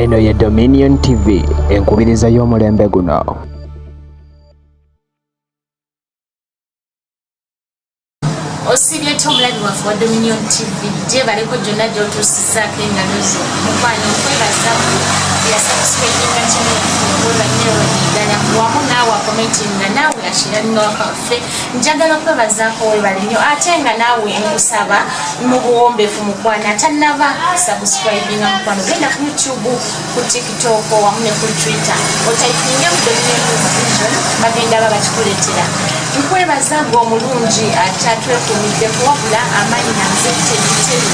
Eno ye Dominion TV enkubiriza y'omulembe guno. osibye ki omulabi waffe wa dominion tv gyebaleko gyonna gyotuusizaako engalo zo mukwano nkwebaza yasabusipeyinga kino olwanyerodi ddala wamu naawe akometinga naawe akirannwaka waffe njagala kwebazaako webale nnyo ate nga naawe nkusaba mu buwombeefu mukwana atanaba sabusikribinga mukwano genda ku youtube ku tiktok wamu ne ku twitter otaipinge kudonemuvision bagenda ba bakikuleetera nkwebaza gwe omulungi atatwekumidde kuwabula amaanyi nanze tebiteri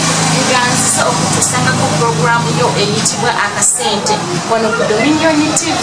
nga nziza okutusangako puroguramu yo eyitibwa akasente wano ku dominion tv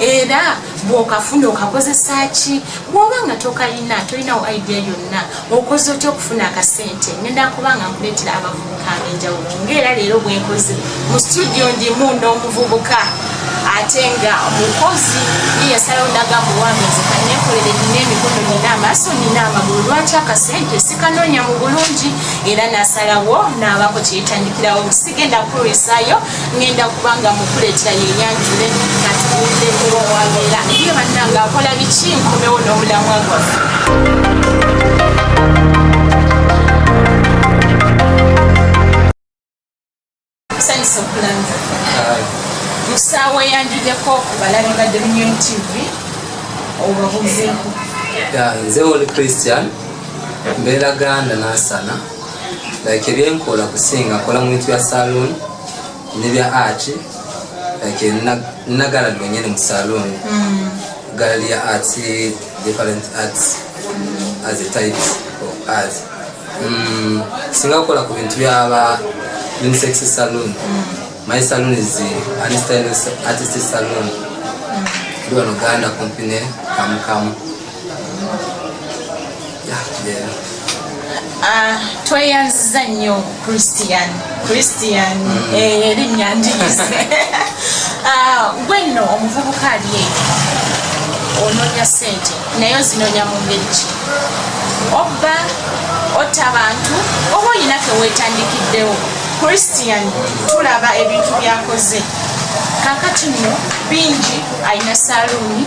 era bwokafuna okakozesa ki bwoba nga tokalina tolinawo idea yonna okoze otya okufuna akasente ngenda kuba nga nkuleetera abavubuka abenjawulo ngaera leero bwenkoze mu studio ndimu n'omuvubuka ate nga omukozi yeyasalawo nagamba owambezi kanekolere nina emikono nina amaaso nina amagulu lwaki akasente sikanonya mu bulungi era nasalawo naabako kyeyitandikirawo sigenda kukulwisayo ngenda kubanga mukuletera yenyanjule katuwulire kuba owabeera ye bannanga akola biki nkomewo n'omulamwa gwaffe sanyusa okulanga musaawa eyanjideko kubalabi ba dominion tv obabuzeeko nze oli christian mbeera ganda nansana like ebyenkola kusinga kola mu bintu bya saloon ne bya art like nagala dwenyene mu saloon mm. gallery ya art different arts mm. as a type of art mm. singa kola ku bintu bya ba unisex saloon mm. my saloon is artist saloon mm. duwa noganda company kamukamu Ah, tweyanziza nnyo christian christian mm. eh, erinnya ndiyise ah, gwe nno omuvubuka ali eyo onoonya sente naye ozinoonya mu ngeri ki obba otta bantu oba olina kewetandikiddewo christian tulaba ebintu byakoze kakati nno bingi alina saluuni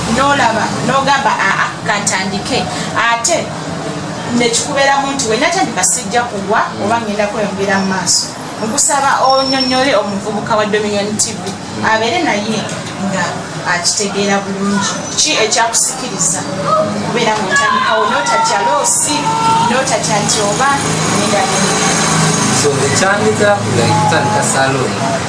nolaba nogamba aa kantandike ate nekikubeeramu nti wenatandika sijja kugwa oba ngenda kweyongera mu maaso nkusaba onyonyole omuvubuka wa dominion tv abeere naye nga akitegeera bulungi ki ekyakusikiriza okubeera nga otandikawo notatya loosi notatya nti oba nendagenda so ekyandika like kutandika salon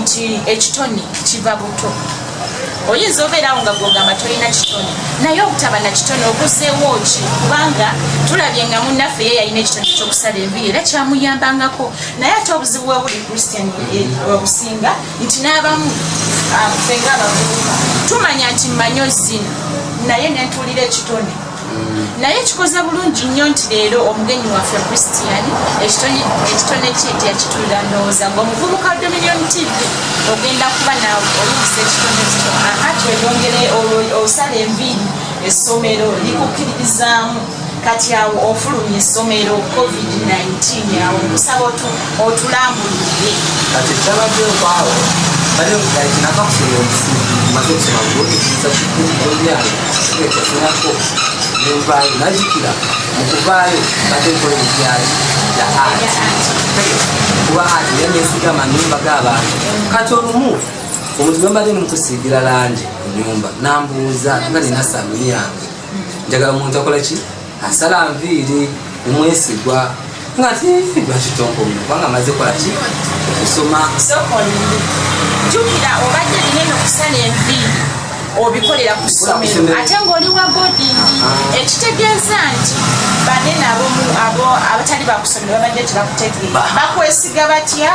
nti ekitone kiva buto oyinza obeerawo nga gwogamba tolina kitone naye obutaba na kitone oguzeewo ki kubanga tulabye nga munnaffe ye yalina ekitone kyokusala enviri era kyamuyambangako naye ate obuzibu webuli christian obusinga nti n'abamu ah, fenga abavubuka tumanya nti manyo zina naye nentuulira ekitone naye kikoze bulungi nnyo nti leero omugenyi waffe christian ekitone kye nti yakitulira ndowooza ngaomuvubuka dominion tv ogenda kuba nawe olumisa ekitone kito aha tweyongere osala enviiri essomero likukkiririzaamu kati awo ofulumya essomero covid-19 awo okusaba otuuka otulambuludde kati ekyabadde okwawo bali ngali kinaka kusoma obusi maze okusoma bwokikiza kikulu olunyaalo ekyasinako nenvaayo najikira mukuvaayo bade nkola ebyali ya ati kuba ati naye nesiga manyumba g'abantu kati olumu omuntu bwembadde nimukusiigira langi ku nyumba nambuuza nga nina samu yange njagala omuntu akola ki asala nviiri omwesigwa nga tibakitonkomu kubanga amaze kolaki okusoma jukira obadde linene okusala enviiri obikolera ku ssomero ate ng'oli wa bodingi ah. ekitegeeza nti banene abatali bakusomero babadde tebakutegeera bakwesiga batya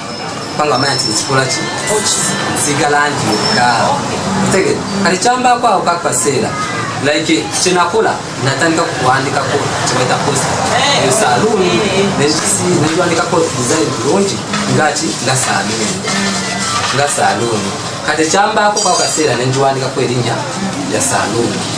kubanga amanya nti ekikola ki sigala nti yokka tege kati kyambaako awo kakaseera like kyenakola natandika kuwandikako kyebaita post eyo saluuni nekiwandikako design bulungi ngaki nga saluuni nga saluuni kati kyambaako kwako kaseera nenjiwandikako erinnya ya saluuni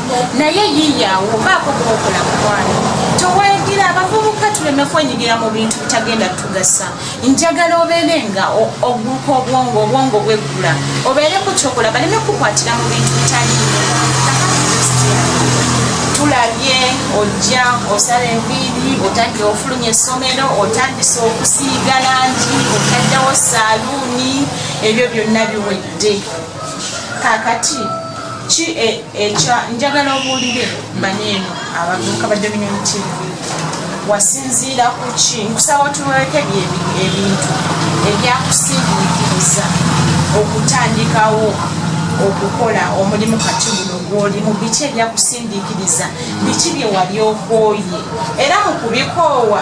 naye yiyawo baako kubakola mukwano towagira abavubuka tuleme kwenyigira mu bintu bitagenda tugasa njagala obeere nga oguka obwongo obwongo bweggula obeere ku kyokola baleme kukwatira mu bintu bitali tulabye ojja osala enviiri otadde ofulumya essomero otandise okusiiga langi otaddewo saaluuni ebyo byonna biwedde kakati ki e, ekya njagala obuulire manye eno abavubuka ba dominion tv wasinziira ku ki nkusaba otuweke ebintu ebyakusindikiriza okutandikawo okukola omulimu kati guno gwoli mu biki ebyakusindikiriza biki bye wali okooye era mu kubikoowa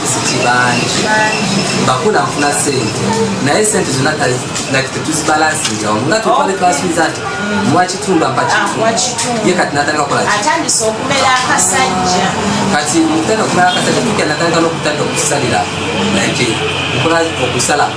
bangi bakula nfuna sente naye sente zona tetuzibalansinga omu nga tutwale twasubiza nti mwakitumba mpakiye kati natandika kola atandise okumera akasajja kati mutenda okumera akasajja tuke natandika nokutandika okusalira nake nkola okusala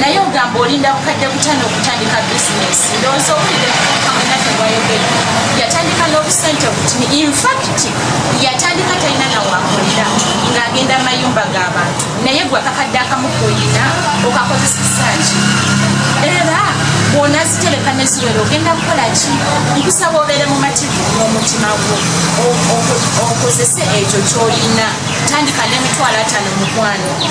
naye ogamba olinda bukadde butano okutandika bisinesi ndowooza obulire kamunate bwayogere yatandika n'obusente obutini infakiti yatandika talina nawakolera ng'agenda amayumba g'abantu naye gwe akakadde akamu koyina okakozesesaki era bwona zitereka neziwera ogenda kukola ki nkusaba obeere mumativu n'omutima gwo okozese ekyo kyoyina tandika n'emitwalo atano mukwano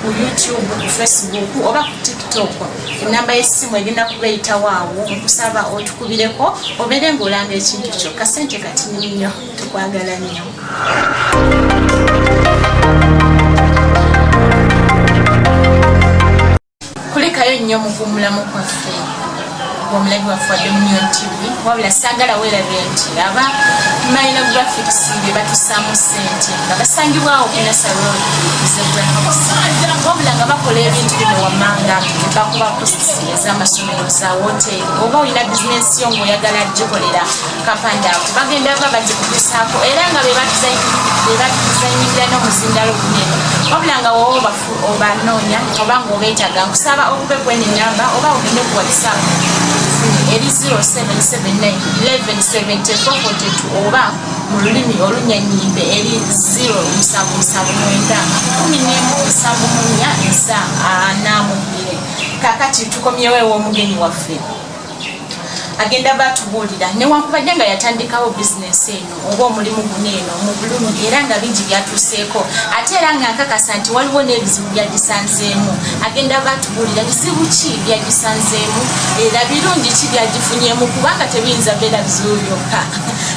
ku youtube ku facebook oba ku tiktok enamba yesimu egenda kubeyitawo awo nkusaba otukubireko obeere ngaolanga ekintu kyo kasente katini nnyo tukwagala nnyo kulikayo nnyo mukuumulamu kwaffe omulabi waffe wadde munion tv wabula saagala weerabye nti aba mayina graphics be batusaamu ssente nga basangibwawo kunasa road zebrahox wabula nga bakola ebintu bino wammanga bakuba kosisi ez'amasomero za woteeri oba olina bizinensi yo ng'oyagala gikolera kapandaako bagenda ba bagikutusaako era nga be batuzanyirira n'omuzindaalo gunene wabula nga wowoba obanoonya oba ng'obeetaga nkusaba okube kweni namba oba ogende ku whatsapp eri 0779117442 oba mu lulimi olunyanyimbe eri 07791749 kakati tukomyewo ew'omugenyi waffe agenda batubuulira newankubadde nga yatandikawo bizinesi eno oba omulimu guno eno mu bulumu era nga bingi byatuuseeko ate era nga nkakasa nti waliwo n'ebizibu byagisanzeemu agenda batubuulira bizibu ki byagisanzeemu era birungi ki byagifunyemu kubanga tebiyinza beera bizibu byokka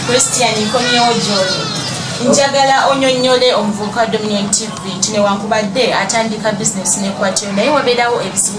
christian nkomyewo gyoli njagala onyonyole omuvubuka wa dominion tv nti newankubadde atandika bizinesi nekwatyo naye wabeerawo ebizibu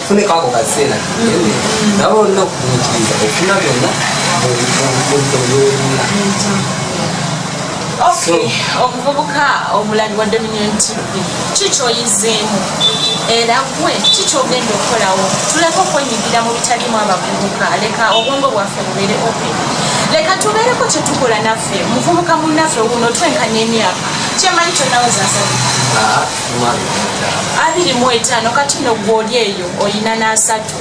funeka ako kaseera nabo olina okugumitiriza ofuna byonna byolina omuvubuka omulali wa dominion tv kikyoyizeemu era gwe kikyogenda okukolawo tuleka okwenyigira mu bitalimu abavubuka leka obwongo bwaffe bubeere open leka tubeereko kyetukola naffe muvubuka munaffe wuno twenkanya emyaka kyemanyi kyonawozasabi abiri mu etaano kati no gwoli eyo olina n'asatu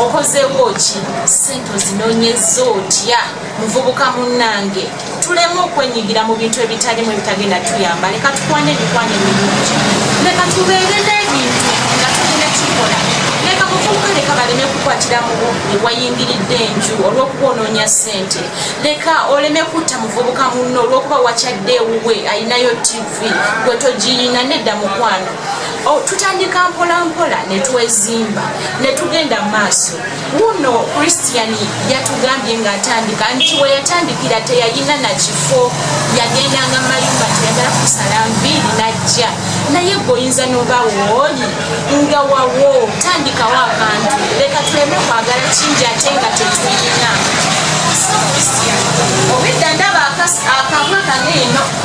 okozeewo ki sente ozinonyeza otya muvubuka munnange tuleme okwenyigira mu bintu ebitalimu ebitagenda tuyamba leka tukwane emikwano emirungi leka tubeere n'ebintu nga tulina kikola leka muvubuka leka baleme kukwatira mubu newayingiridde enju olwokuba onoonya sente leka oleme kutta muvubuka munno olwokuba wakyadde ewuwe ayinayo tv gwe togiyina nedda mukwano oh, tutandika mpolampola netwezimba netugenda maaso wuno christian yatugambye nga atandika nti weyatandikira teyayina nakifo yagendanga mayumba teyagala kusala nviiri najja naye goyinza noba wooli nga wawo tandikawo abantu leka tuleme kwagala kingi ate nga tetuyina obedda ndaba akabwa kano eno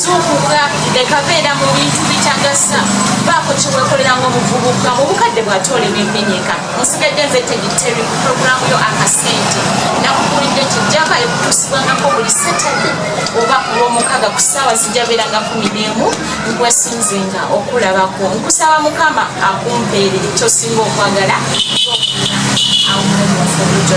zuukuka leka beera mu bintu bitagasa baako kyewekolera nga omuvubuka mu bukadde bwate oli nemenyeka nsigadde nze tegiteri ku puroguramu yo akasente nakukulidde nti jaka ekutuusibwangako buli satade oba kulwomukaga ku saawa zijja beera nga kumi neemu nkwesinze nga okulabako nkusaba mukama akumpeere kyosinga okwagala awo omufubujo